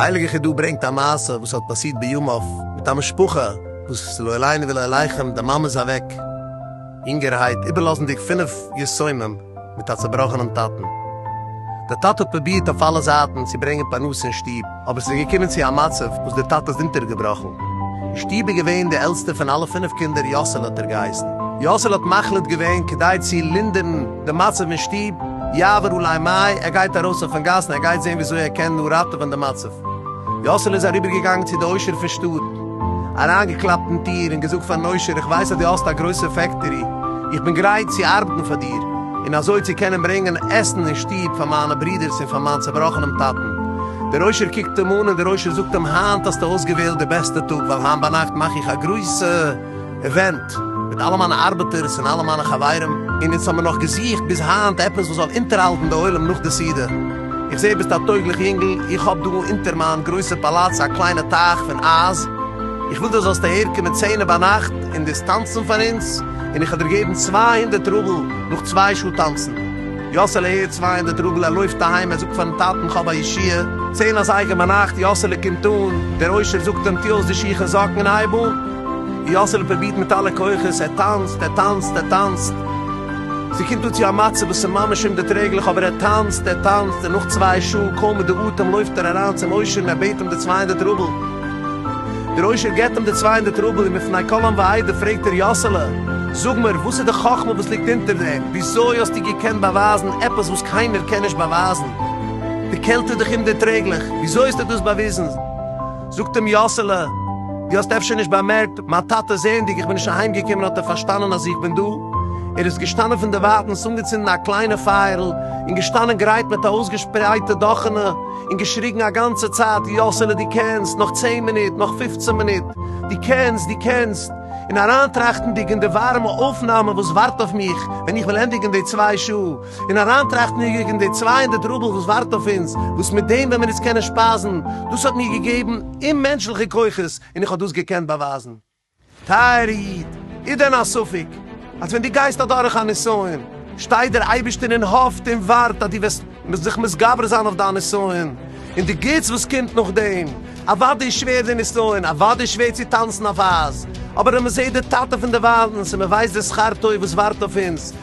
די הייליגע חידא ברענגט א מעשה וואס האט פאסירט בימיו מיט א משפחה וואס לא עלינו ולא עליכם די מאמע איז אוועק, יונגערהייט, איבערלאזנדיג פינף יתומים מיט א צעבראכענעם טאטן. דער טאטע האט פרובירט אויף אלע זייטן צו ברענגען פרנסה אין שטוב, אבער ס'איז געקומען צו א מצב וואס דער טאטע איז אונטערגעבראכן. אין שטוב איז געווען דער עלטסטער פון אלע פינף קינדער, יאסעלע האט ער געהייסן. יאסעלע האט מחליט געווען, כדי צו לינדערן דעם מצב אין שטוב, יעבור אולי מים, ער גייט ארויס אויפן גאס און ער גייט זען וויאזוי ער קען נאר ראטעווען דעם מצב. יאסעלע איז אריבערגעגאנגען צו די עושר פון שטאט. אריינגעקלאפט אין טיר און געזאגט פארן עושר איך ווייס אז דו האסט א גרויסע פעקטארי, איך בין גרייט צו ארבעטן פאר דיר און אזוי צו קענען ברענגען עסן אין שטוב פאר מיינע ברודערס און פאר מיין צעבראכענעם טאטן. דער עושר קוקט אים אן און דער עושר זאגט אים היינט האסטו אויסגעוועלט די בעסטע טאג ווייל היינט ביינאכט מאך איך א גרויסע אווענט, מיט אלע מיינע ארבעטערס און אלע מיינע חברים, און אונז האמיר נאך געזוכט ביז היינט עפעס וואס זאל אונטערהאלטן די עולם נאך די סעודה. איך זעה ביסט א טויגליך יונגל, איך האב דא אונטער מיין גרויסע פאלאץ א קליינע טייך פון אייז, איך וויל דו זאלסט אהער קומען צענע ביינאכט און דאס טאנצן פאר אונז, און איך וועל דיר געבן צוויי הונדערט רובל נאך צוויי שעה טאנצן. יאסעלע הערט צוויי הונדערט רובל, ער לויפט אהיים, ער זאגט פארן טאטן כ'האב א ישועה. צען אזייגער ביינאכט, יאסעלע קומט אן, דער עושר זאגט אים, טו אויס די שיך און זאקן און הייב אן. יאסעלע פרובירט מיט אלע כוחות, ער טאנצט, ער טאנצט, ער טאנצט, ס'קומט אן צו א מצב וואס איז ממש אומדערטרעגליך, אבער ער טאנצט, ער טאנצט, און נאך צוויי שעה, קוים מיט די אטעם, לויפט ער אריין צום עושר און ער בעט אים די צוויי הונדערט רובל. דער עושר געבט אים די צוויי הונדערט רובל, און מפני כל עם ועדה פרעגט ער, יאסעלע, זאג מיר, וואס איז די חכמה וואס ליגט אונטער דעם? וויאזוי האסטו געקענט באווייזן עפעס וואס קיינער קען נישט באווייזן? די קעלט איז דאך אומדערטרעגליך, וויאזוי האסטו דאס באוויזן? זאָגט אים יאָסעלע, דו האָסט אפשר נישט באַמערקט, מײַן טאַטע, זעענדיק, איך בין נישט אַהיימגעקומען, האָט ער פֿאַרשטאַנען, אַז איך בין דאָ. ער איז געשטאַנען פֿון דער װײַטנס, אָנגעצונדן אַ קלײנע פֿײַערל און געשטאַנען גרײט מיט אַ אױסגעשפּרײטע דאַכענע און געשריגן אַ גאַנצע צײַט, יאָסעלע, דו קענסט! נאָך צען מינוט! נאָך פֿופֿצן מינוט! דו קענסט! דו קענסט! און אַרײַנטראַכטנדיק אין די װאַרעמע אױפֿנאַמע, װאָס װאַרט אױף מיך, װען איך װעל ענדיקן די צװײ שעה, און אריינטראכטן יגעג אין די צוויי הונדערט רובל וואס ווארט אויף אונז, וואס מיט דעם ווען מיר אונז קענען שפייזן, דאס האט מיר געגעבן אוממענטשליכע כוחות און איך האב דאס געקענט באווייזן. טייערע איד, איז דען א ספק אז ווען דו גייסט אדורך א נסיון, שטייט דער אייבערשטער און האפט און ווארט אז דו וועסט זיך מתגבר זיין אויף דיין נסיון, און די גוטס וואס קומט נאכדעם? אוודאי איז שווער די נסיון, אוודאי איז שווער צו טאנצן אויף אייז, אבער אז מען זעט די טאטע פון די וויילנס און מען ווייסט די שכר טוב וואס ווארט אויף אונז,